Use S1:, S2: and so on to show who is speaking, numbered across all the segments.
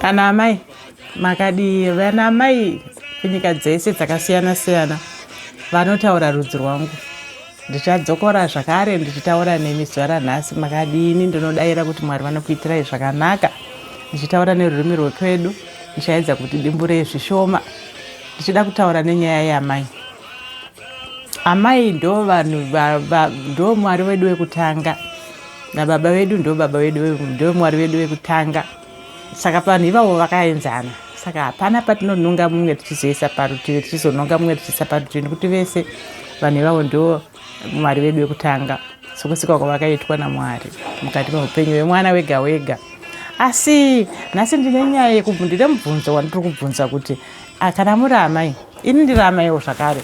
S1: Kana amai makadii vana amai kunyika dzese dzakasiyana siyana vanotaura rudzi rwangu ndichadzokora zvakare ndichitaura nemi zuva ranhasi makadini ndinodaira kuti mwari vanokuitirai zvakanaka ndichitaura nerurimi rwekwedu ndichaedza kuti dimburei zvishoma ndichida kutaura nenyaya yamai amai ndo vanhu ndo mwari wedu wekutanga nababa vedu ndobaba vedu ndomwari vedu vekutanga saka vanhu ivavo vakaenzana saka hapana patinononga mumwe tichizoisa parutivi tichizononga mumwe tichiisa parutivi nekuti vese vanhu ivavo ndo mwari vedu vekutanga sokusikwa kwavakaitwa namwari mukati meupenyu vemwana wega wega asi nhasi ndine nyaya yekubvundire mubvunzo wandiri kubvunza kuti ah, kana muri amai ini ndiri amaiwo zvakare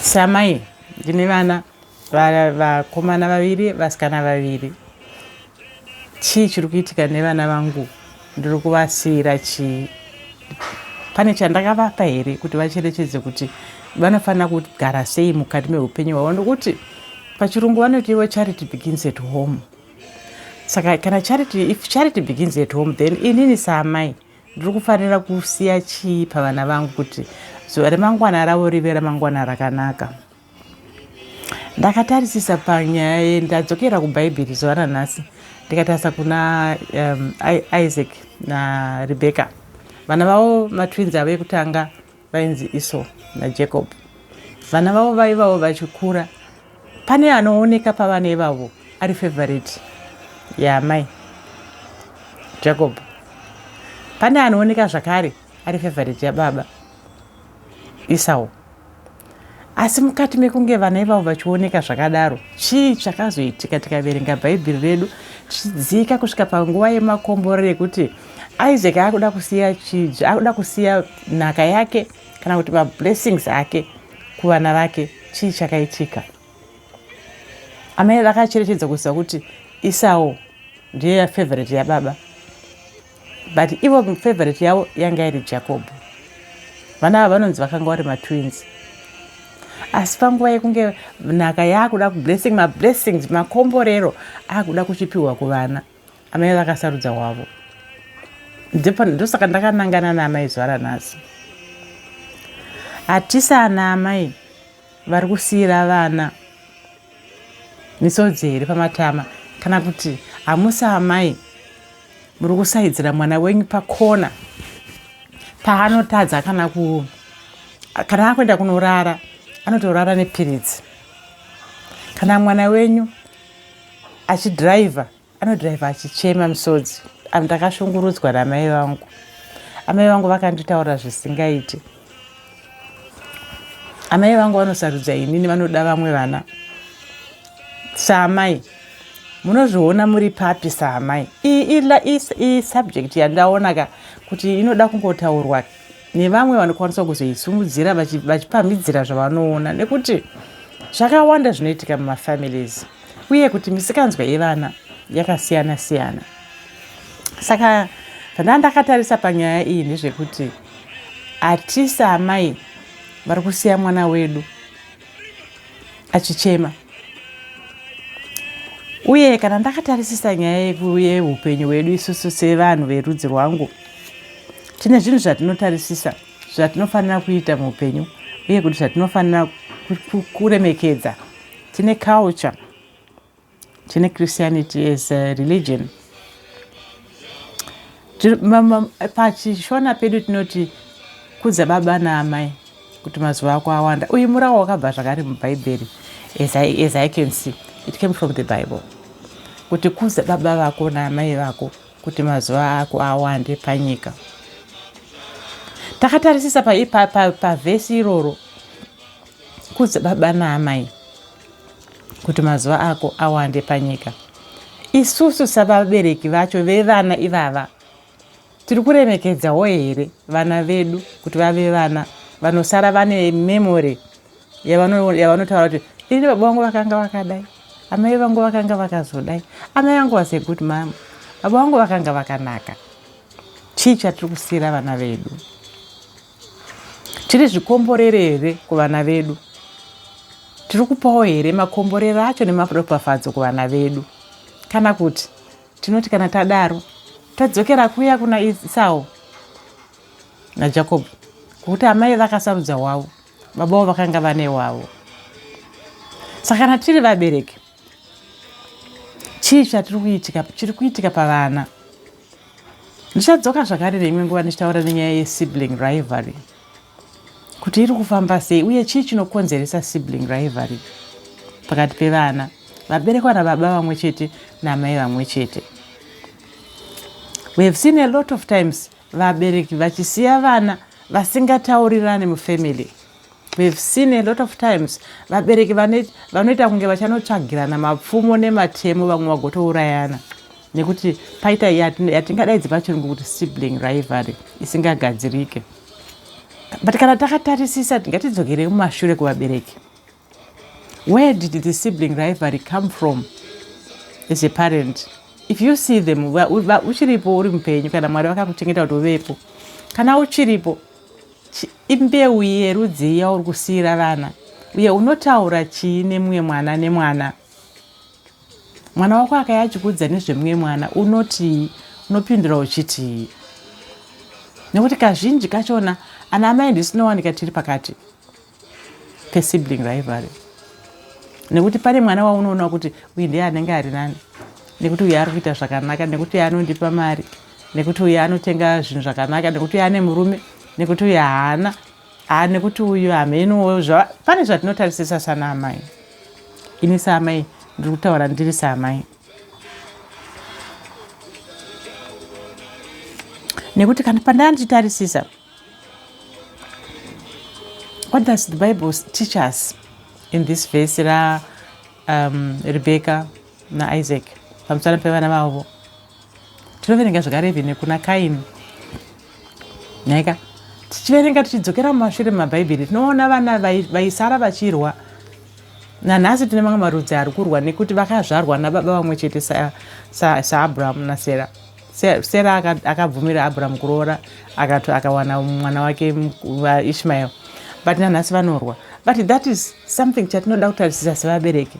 S1: samai ndine vana vakomana vaviri vasikana vaviri chii chiri kuitika nevana vangu ndiri kuvasiira chii pane chandakavapa here kuti vacherechedze kuti vanofanira kugara sei mukati meupenyu hwavo nokuti pachirungu vanoti ivo charity begins at home saka kana charity if charity begins at home then inini saamai ndiri kufanira kusiya chii pavana vangu kuti zuva remangwana ravo rive ramangwana rakanaka so ndakatarisisa panyaya ye ndadzokera kubhaibheri zuva ranhasi ndikatarisa kuna um, isaac narebecca vana vavo matwins avo ekutanga vainzi iso najacob vana vavo vaivavo vachikura pane anooneka pavana ivavo ari favorite yaamai jacob pane anooneka zvakare ari favorite yababa isawo asi mukati mekunge vana ivavo vachioneka zvakadaro chii chakazoitika tikaverenga bhaibheri redu tichidzika kusvika panguva yemakomborero yekuti isaac akuda kusiya chiji akuda kusiya nhaka yake kana kuti mablessings ake kuvana vake chii chakaitika amai vakacherechedza kuziva kuti isawo ndiye yafavorite yababa but ivo favorite yavo yanga iri jacob vana ava vanonzi vakanga vari matwins asi panguva yekunge nhaka yaakuda kublessing mablessings makomborero akuda kuchipiwa kuvana amai vakasarudza wavo ndosaka ndakanangana naamai zuva ranhasi hatisana amai vari kusiyira vana misodzi here pamatama kana kuti hamusi amai muri kusaidzira mwana wenyu pakona paanotadza kana ku kana akuenda kunorara anotorara nepiritsi kana mwana wenyu achidhiraivha Anodriver achichema misodzi. Anhu takashungurudzwa namai vangu. Amai vangu vakanditaura zvisingaiti. Amai vangu vanosarudza inini vanoda vamwe vana. Saamai munozviona muri papi saamai. Iyi subject yandaona ka kuti inoda kungotaurwa nevamwe vanokwanisa kuzoisumudzira vachipamhidzira zvavanoona nekuti zvakawanda zvinoitika mumafamilies uye kuti misikanzwa yevana yakasiyana siyana saka zvandanga ndakatarisa panyaya iyi ndezvekuti hatisi amai vari kusiya mwana wedu achichema uye kana ndakatarisisa nyaya yeupenyu hwedu isusu sevanhu verudzi rwangu tine zvinhu zvatinotarisisa zvatinofanira kuita muupenyu uye kuti zvatinofanira kuremekedza tine culture tine christianity as a religion pachishona pedu tinoti kudza baba naamai kuti mazuva ako awanda uyu murawo wakabva zvakare mubhaibheri as I, as i can see it came from the bible kuti kudza baba vako naamai vako kuti mazuva ako awande panyika takatarisisa pavhesi pa, pa, pa iroro Kudza baba naamai kuti mazuva ako awande panyika. Isusu savabereki vacho vevana ivava tiri kuremekedzawo here vana vedu kuti vave vana vanosara vane memory yavanotaura kuti ini baba vangu vakanga vakadai amai vangu vakanga vakazodai amai vangu was a good mama baba vangu vakanga vakanaka chii chatiri kusiira vana vedu Tiri zvikomborere here kuvana vedu? Tiri kupawo here makomborero acho nemaropafadzo kuvana vedu? Kana kuti tinoti kana tadaro tadzokera kuya kuna Isau naJakobho kuti amai vakasarudza wavo babawo vakanga vane wavo saka kana tiri vabereki chii chatiri kuitika chiri kuitika pavana ndichadzoka zvakare neimwe nguva ndichitaura nenyaya yesibling rivalry kuti iri kufamba sei uye chii chinokonzeresa sibling rivalry pakati pevana vaberekwa nababa vamwe chete namai vamwe chete we have seen a lot of times vabereki vachisiya vana vasingataurirane mufamily We have seen a lot of times vabereki vanoita kunge vachanotsvagirana mapfumo nematemo vamwe vagotourayana nekuti paita yatingadaidzi pachirungu kuti sibling rivalry isingagadzirike but kana takatarisisa ngatidzokere mumashure kuvabereki where did the sibling rivalry come from as a parent if you see them uchiripo uri mupenyu kana mwari vakakuchengeta kuti uvepo kana uchiripo Chii mbeu yerudzii yauri kusiira vana uye unotaura chii nemumwe mwana nemwana? Mwana wako akaya achikuudza nezvemumwe mwana unotii? Unopindura uchitii? Nekuti kazhinji kachona ana amai ndisinowanika tiri pakati. pesibling rivalry nekuti pane mwana waunoona kuti uyu ndiye anenge ari nani nekuti uyu ari kuita zvakanaka nekuti uyu anondipa mari nekuti uyu anotenga zvinhu zvakanaka nekuti uyu ane murume nekuti uyu haana haa nekuti uyu hamheniwo pane zvatinotarisisa sana amai ini saamai ndiri kutaura ndiri saamai nekuti kana pandanditarisisa What does the Bible teach us in this verse ra um, Rebecca na Isaac pamusana pevana vavo? Tinoverenga zvakare even kuna Kaini. Nhaika tichiverenga tichidzokera mumashure mumabhaibheri tinoona vana vaisara vachirwa nanhasi tine mamwe marudzi ari kurwa nekuti vakazvarwa nababa vamwe chete saabrahamu sa nasera sa Sera akabvumira Abraham kuroora akati akawana mwana wake Ishmael but nanhasi vanorwa but that is something chatinoda kutarisisa sevabereki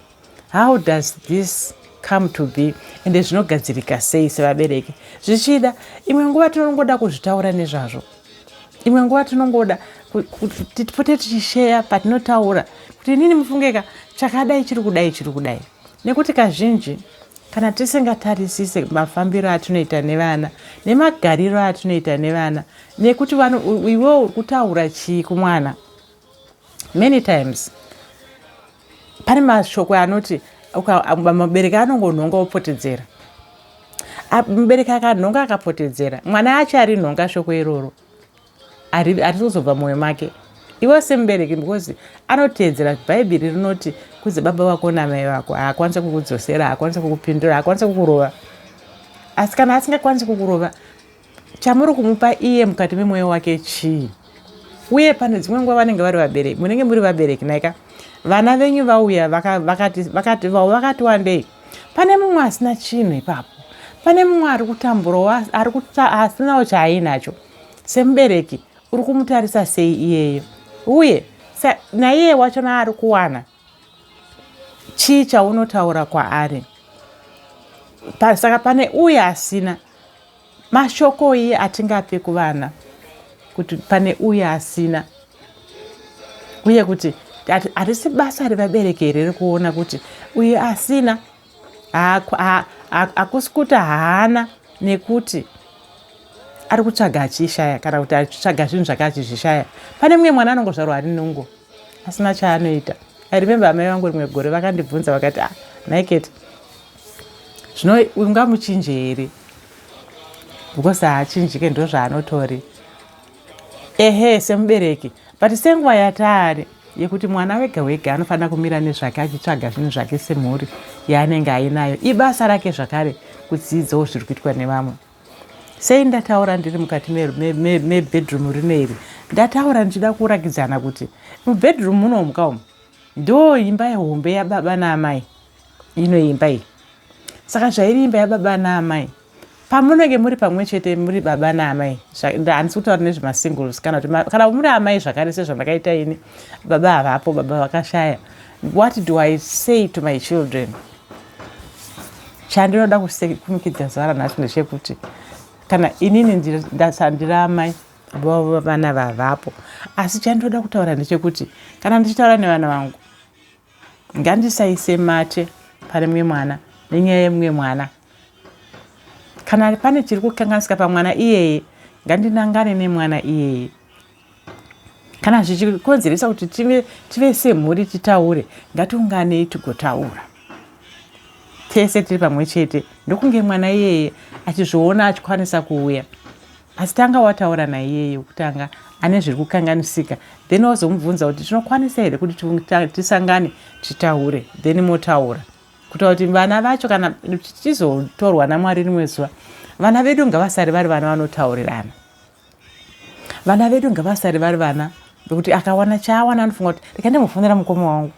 S1: how does this come to be ende zvinogadzirika sei sevabereki zvichida imwe nguva tinongoda kuzvitaura nezvazvo imwe nguva tinongoda tipote tichisheya patinotaura kuti inini mufungeka chakadai chiri kudai chiri kudai nekuti kazhinji Kana tisingatarisise mafambiro atinoita nevana nemagariro atinoita nevana nekuti iwewo uri kutaura chii kumwana many times pane mashoko anoti mubereki anongonhonga opotedzera mubereki akanhonga akapotedzera mwana achari nhonga shoko iroro harizozobva mwoyo make iwe semubereki because anoteedzera bhaibheri rinoti kudze baba vako namai vako haakwanisa kukudzosera haakwanisa kukupindura haakwanisa kukurova asi kana asingakwanisi kukurova chamuri kumupa iye mukati memwoyo wake chii uye pane dzimwe nguva vanenge vari vabereki munenge muri vabereki naika vana venyu vauya vakati vavo vakati wandei pane mumwe asina chinhu ipapo pane mumwe ari kutamburawo asinawo chaainacho Semubereki, uri kumutarisa sei iyeyo? Uye naiye wacho naari kuwana chii chaunotaura kwaari? Pa, saka pane uye asina mashoko iye atingape kuvana kuti pane uye asina uye kuti harisi basa revabereki here rekuona kuti uye asina hakusi kuti haana nekuti ari kutsvaga achishaya kana kuti achitsvaga zvinhu zvake achizvishaya pane mumwe mwana anongozvarwa ari nungo asina chaanoita i remember amai vangu rimwe gore vakandibvunza vakati ah, naiket zvino ungamuchinje here because haachinjike ndozvaanotori Ehe semubereki but senguva yataari yekuti mwana wega wega anofanira kumira nezvake achitsvaga zvinhu zvake semhuri yaanenge ainayo ibasa rake zvakare kudziidzawo zviri kuitwa nevamwe sei ndataura ndiri mukati mebedroom me, me, me rino iri ndataura ndichida kuratidzana kuti mubedroom munomuka umu ndo imba yehombe yababa naamai ino imba iyi saka zvairi imba yababa naamai pamunenge muri pamwe chete muri baba naamai handisi kutaura nezvemasingles kana kuti kana muri amai zvakare sezvandakaita ini baba havapo baba vakashaya what do i say to my children chandinoda kumikidza zuva ranhasi ndechekuti kana inini ndiri amai vana vavapo asi chandinoda kutaura ndechekuti kana ndichitaura nevana vangu Ngandisaise mate pane mumwe mwana nenyaya yemumwe mwana. Kana pane chiri kukanganisika pamwana iyeye, ngandinangane nemwana iyeye. Kana zvichikonzeresa kuti tive, tive semhuri titaure, ngatiunganei tigotaura tese tiri pamwe chete ndokunge mwana iyeye achizviona achikwanisa kuuya. Asi tanga wataura naiyeye wekutanga ane zviri kukanganisika then wozomubvunza kuti tinokwanisa here kuti tisangane titaure then motaura kutaura kuti vana vacho kana tichizotorwa namwari rimwe zuva vana vedu ngavasari vari vana vanotaurirana vana vedu ngavasari vari vana vekuti akawana chaawana anofunga kuti reka ndimbofonera mukoma wangu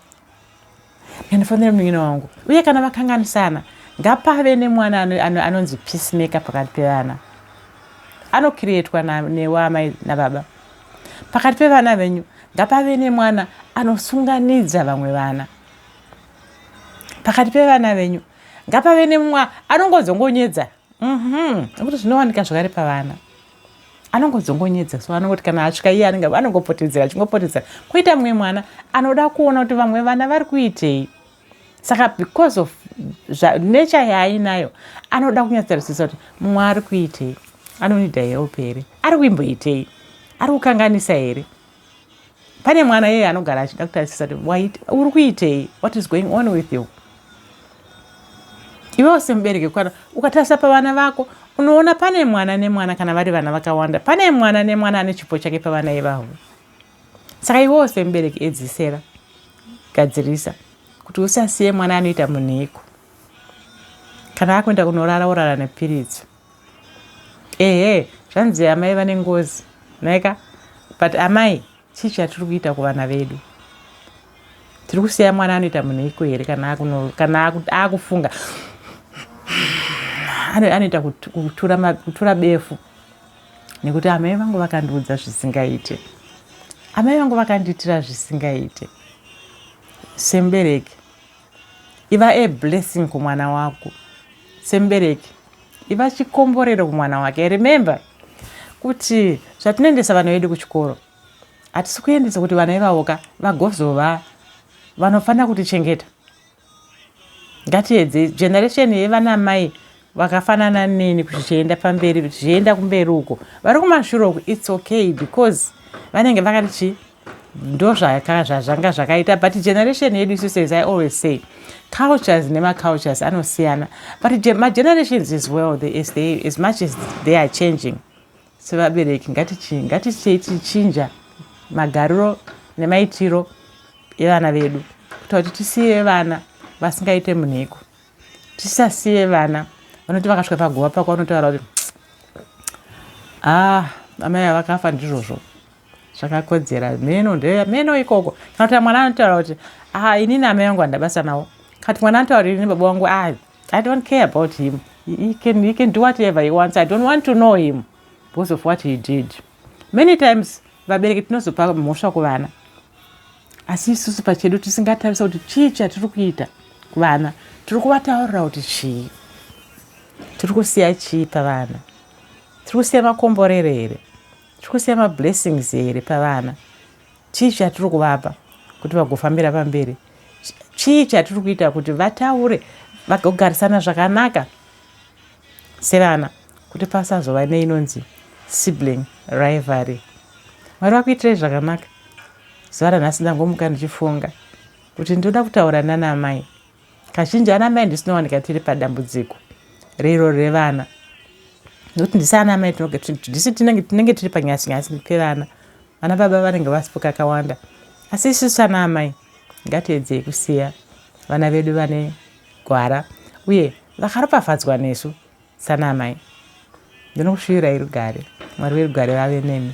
S1: Ndinofanira munin'ina wangu. Uye kana vakanganisana, ngapave nemwana anonzi peacemaker pakati pevana. Anokiriyetwa newe amai nababa. Pakati pevana venyu, ngapave nemwana anosunganidza vamwe vana. Pakati pevana venyu, ngapave nemwa anongodzongonyedza. Mhm. Nekuti zvinowanika zvakare pavana. anongodzongonyedza so anongoti kana asvika iye anenge anongopotedzera achingopotedzera koita mumwe mwana anoda kuona kuti vamwe vana vari kuitei saka because of nature yaainayo anoda kunyatsarisisa kuti mumwe ari kuitei anonida help here ari kuimboitei ari kukanganisa here pane mwana yeye anogara achida kutarisisa kuti uri kuitei what is going on with you iwewo semubereki kwana ukatarisa pavana vako unoona pane mwana nemwana kana vari vana vakawanda pane mwana nemwana ane chipo chake pavana ivavo saka iwewo semubereki edzisera gadzirisa kuti usasiye mwana anoita munhiko kana akuenda kunorara orara nepiridzo ehe zvanzi amai vane ngozi naika but amai chii chatiri kuita kuvana vedu tiri kusiya mwana anoita munhu iko here kana akufunga anoita kutura befu nekuti amai vangu vakandiudza zvisingaite amai vangu vakandiitira zvisingaite semubereki Iva a blessing kumwana wako semubereki. Iva chikomborero kumwana wake. Remember kuti zvatinoendesa vana vedu kuchikoro hatisi kuendesa kuti vana ivavoka vagozova vanofanira kutichengeta. Ngatiedze generation yevana mai vakafanana neni kuzvichienda pamberi zvichienda kumberi uko vari kumashure uko its okay because vanenge vakati chii ndozvaka zvazvanga zvakaita but generation yedu isu says i always say cultures nemacultures anosiyana but magenerations as well they, as, they, as much as they are changing sevabereki ngatichichinja magariro nemaitiro evana vedu kuita kuti tisiye vana vasingaite munhiko tisasiye vana vanoti vakasvika paguva pako vanotaura kuti ah amai avakafa ndizvozvo zvakakodzera mheno ndeya mheno ikoko kana kuti mwana anotaura kuti ah ini namai vangu vandabasa navo kana kuti mwana anotaura kuti ini baba wangu ah i don't care about him he can, he can do whatever he wants i don't want to know him because of what he did many times vabereki tinozopa mhosva kuvana asi isusu pachedu tisingatarisa kuti chii chatiri kuita kuvana tiri kuvataurira kuti chii tiri kusiya chii pavana tiri kusiya makomborero here Tikusiya ma blessings here pavana? Chii chatiri kuvapa kuti vagofambira pamberi? Chii chatiri kuita kuti vataure vagogarisana zvakanaka sevana kuti pasazova neinonzi sibling rivalry? Mwari vakuitirei zvakanaka. Zuva ranhasi ndangomuka ndichifunga kuti ndoda kutaura nana amai. Kazhinji ana mai ndisu tinowanika tiri padambudziko rero revana nokuti ndisi ana mai tinogetisu tinenge tiri panyasi nyasi pevana vana baba vanenge vasipo kakawanda asi isusu ana amai ngatiedzei kusiya vana vedu vane gwara uye vakaropafadzwa nesu sana amai ndinokushuvirai rugare mwari verugare vave nemi